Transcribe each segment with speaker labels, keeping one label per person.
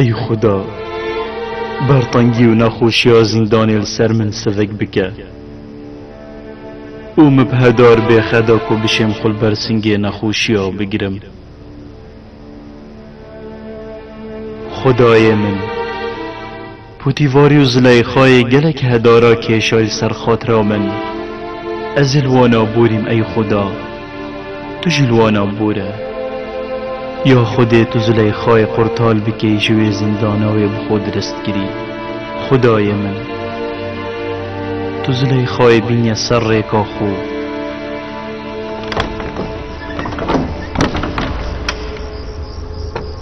Speaker 1: Ey Xuda! Bertengî û nexweşiya zîndanê li ser min sivik bike û min bi hedar bê xeda ku bişêm xwe li ber singê nexweşiya bigirim. Xudayê min! Putîfarî û Zileyxayê gelek hedara kêşay li ser xatira min. Ez ê li wan a borîm ey Xuda! Tu jî li wan a bor e. Ya Xwedê tu Zileyxayê qurtal bikey ji wê zindana wê bi xwe dirist kirî. Xwedayê min! Tu Zileyxayê bînye ser rêka xwe.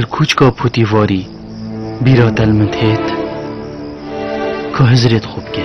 Speaker 1: Li kûçka Pûtîvarî bîra te li min têt ku Hizirê di xwe bike.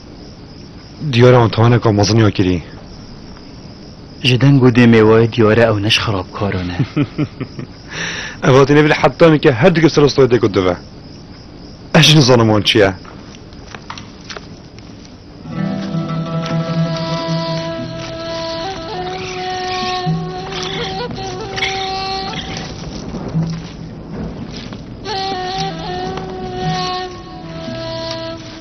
Speaker 1: Diyare antihaneka mezin ya kirî. Ji deng û dêmê we diyare ew ne ji xerabkaran e. Ev hatî nêvî li Hetanê ke her dikê serostayê dê ku dive. Ez jî nizanim wan çi ye.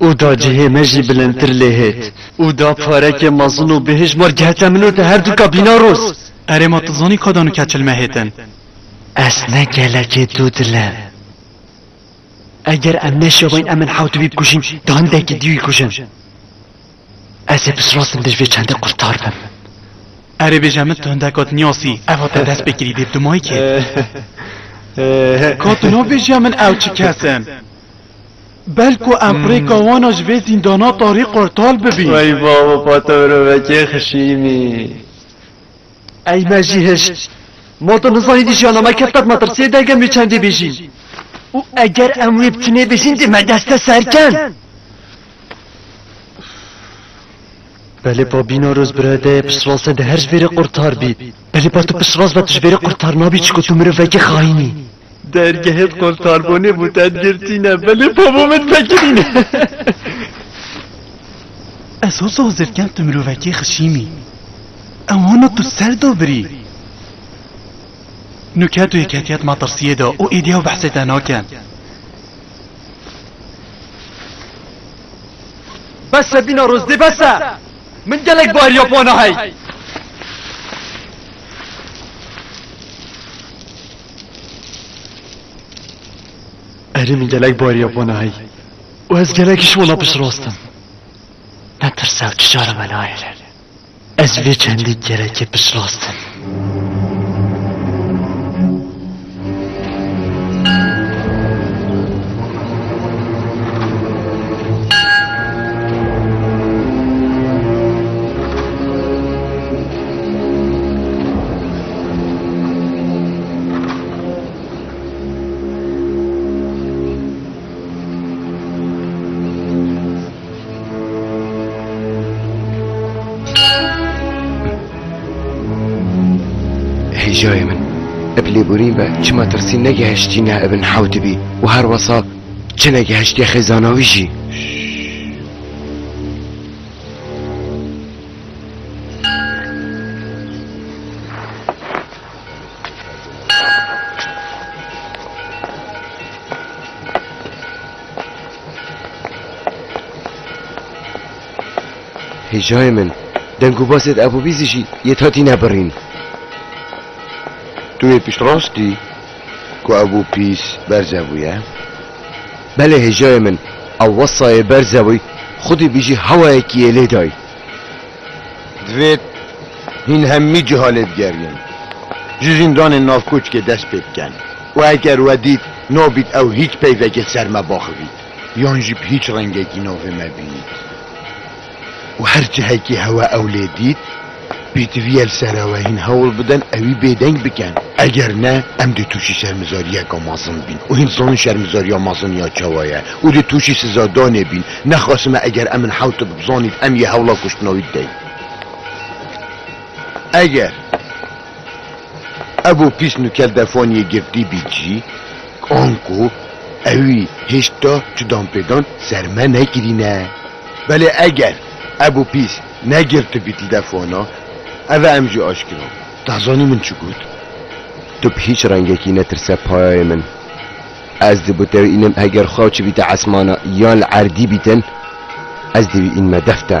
Speaker 1: Û da cihê me jî bilindtir lê hêt. Û da parekê mezin û bi hijmar gihete min û te her dûka bîna roz. Erê ma tu zanî ka da nika çil me hêtin. Ez ne gelekê dû dil im. Eger em neşewin em in hewt wî bikujîn da hindekî dî wî kujin. Ez ê pisrastim dij vê çendê qurtar bim. Erê bêje min tu hindeka dinyasî eva te dest pê kirî dê bi tu mayî kê. Ka tu nabêjiya min ew çi kes in. Belko empirêka wan a ji vê zîndana tarî qurtal bibî. Wey babo pa te mirovekê xişînî. Ey me jî hişt. Ma tu nizanî di jiyana me kefta di metirsiyê de eger em wê çendê bêjîn. Û eger em wê bi tinê bêjîn dê me dest de ser ken. Belê pa bîna roz birayê deyê piştrast e dê her ji vêrê qurtar bî. Belê pa tu piştrast be tu ji vêrê qurtar nabî çiko tu mirovekê xayîn î. Dergehê qol karbonê bû te girtîne belê pabû min vekirîne. Ez ho tu hozirken tu mirovekê xişîmî. Ew hona tu ser do birî. Nuke tu yeketiye di matirsiyê de û êdî ew behsê te nakin. Bes e bîna rozdê bes e. Min gelek bariya pana hey. Erêmî gelek bariye bo nayî û ez gelek ji wan re piştrast im. Netirse û çijara me nayêle. Ez vê çendî gelekê piştrast im. Hêjayê min ev lêborîn ve çima tirsî negihiştîne ev in hewtibî û her wesa çi negihiştiye xêzana wî jî. Hêjayê min deng û basê di ebûbîzî jî yê tatî nebirîn. Tu yê pişt rast î ku ebûpîz berze bûye? Belê hêjayê min ew wesayê berze bûy xwedî bîjî hewayekî yê lê dayî. Divê hîn hemî ciha lê bigerînin. Ji zîndanên navkoçkê dest pê bikin û eger we dît nabît ew hîç peyvekê ser me baxivît yan jî bi hîç rengekî navê me bînît û her cihekî hewa ew lê dît, Pêdivîye li ser ew e hîn hewl bidin ew ê bêdeng bikin. Eger ne, em dê tûşî şermizariyeke mezin bîn û hîn dizanin şermizariya mezin ya çawa ye û dê tûşî sizadanê bîn. Nexwesime eger em in hewt bi bizanîn em yê hewla kuştina wî bidin. Eger Ebo pîs nûkel defaniyê girtî bî cî, anko ewî hêşta çi dan pê dan ser me nekirîne. Belê eger Ebo pîs. Ne girtibî telefona? Eve em jî aşkira. Te zanî min çi got? Tu bi hîç rengekî netirse payayê min. Ez di bo te wî înim heger xwe çibîte esmana yan li erdî bîtin ez di wî înime def te.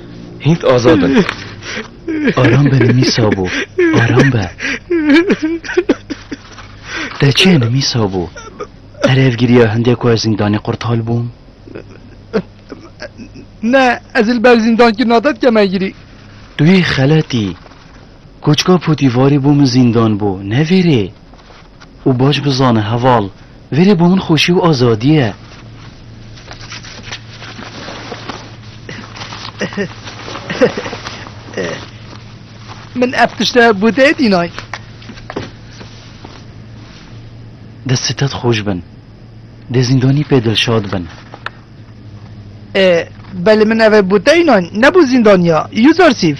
Speaker 1: Hînt azad in. Aram be nimîsa bû. Aram be. Te çê nimîsa bû. Erev giriya hindê ku ez zîndanê qurtal bûm. Ne, ez li ber zîndankirina te dikeme girî. Tu yê xeletî. Koçka potîvarî bû min zîndan bû. Ne vêrê. Û baş bizane heval. Verê bo min xoşî û azadî ye. Min ev tişte bo te tînay. Dest sitet xoş bin. Dê zîndanî pê dilşad bin. E, belê min ev e bo te înan, ne bo zîndaniya. Yûzarsîf.